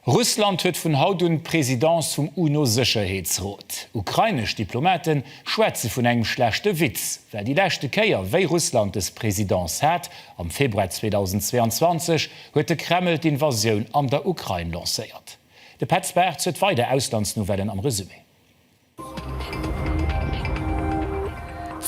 Russland huet vun haut un d'Presidence vum UNO-Sécherheetsrot. Ukrainesch Diplomate schwätze vun engem schlechte Witz, well déi leschte Kéier, wéi Russland des Presidence hat, am Februar 2022, huet de Kreml d'Invasioun an der Ukrain lancéiert. De Petz Bartz huet weider Auslandsnouvellen am Resumé.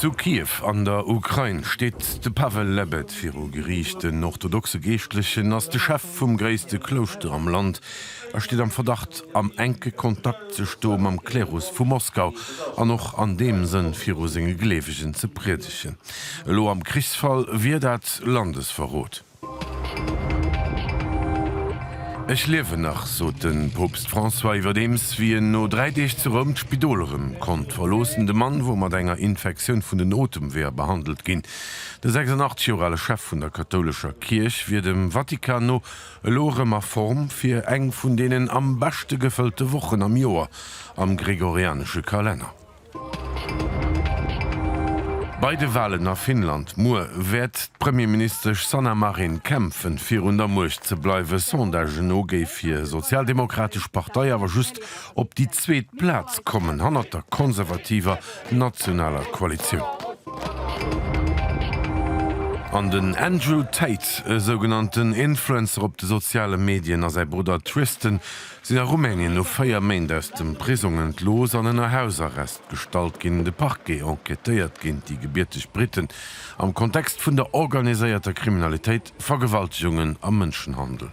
Zu Kiew an der Ukrain steet de Pavel Lebed viru Geriicht. Den orthodoxe Geeschtlechen ass de Chef vum gréisste Klouschter am Land a steet am Verdacht, am enke Kontakt ze stoe mam Klerus vu Moskau an och an deem Sënn viru senge Gleewegen ze priedegen. Elo am Krichsfall wier dat Landesverrot. Ech liewen nach, sot de Poopst François, iwwerdeems wéi en no dräi Deeg zu Roum d'Spidol erëm konnt verloossen. De Mann wor mat enger Infektioun vun den Otemweeër behandelt ginn. De 86 Joer ale Chef vun der kathoulescher Kierch wier dem Vatikan no elo erëm a Form fir eng vun deenen am beschte gefëllte Wochen am Joer am gregorianesche Kalenner. Bei de Walen a Finnland muer wäert d'Premierministesch Sanna Marin kämpfen, fir un der Muecht ze bleiwen. Sondagen no géif hir sozialdemogratesch Partei awer just op déi zweet Plaz kommen, hannert der konservativer Nationaler Koalitioun. An den Andrew Tate, e sougenannten Influencer op de soziale Medien, a säi Brudder Tristan sinn a Rumänien no 4 Méint aus dem Prisong entlooss an ënner Hausarrest gestallt ginn. De Parquet enquêtéiert géint déi gebierteg Briten am Kontext vun der organiséierter Kriminalitéit, Vergewaltegungen a Mënschenhandel.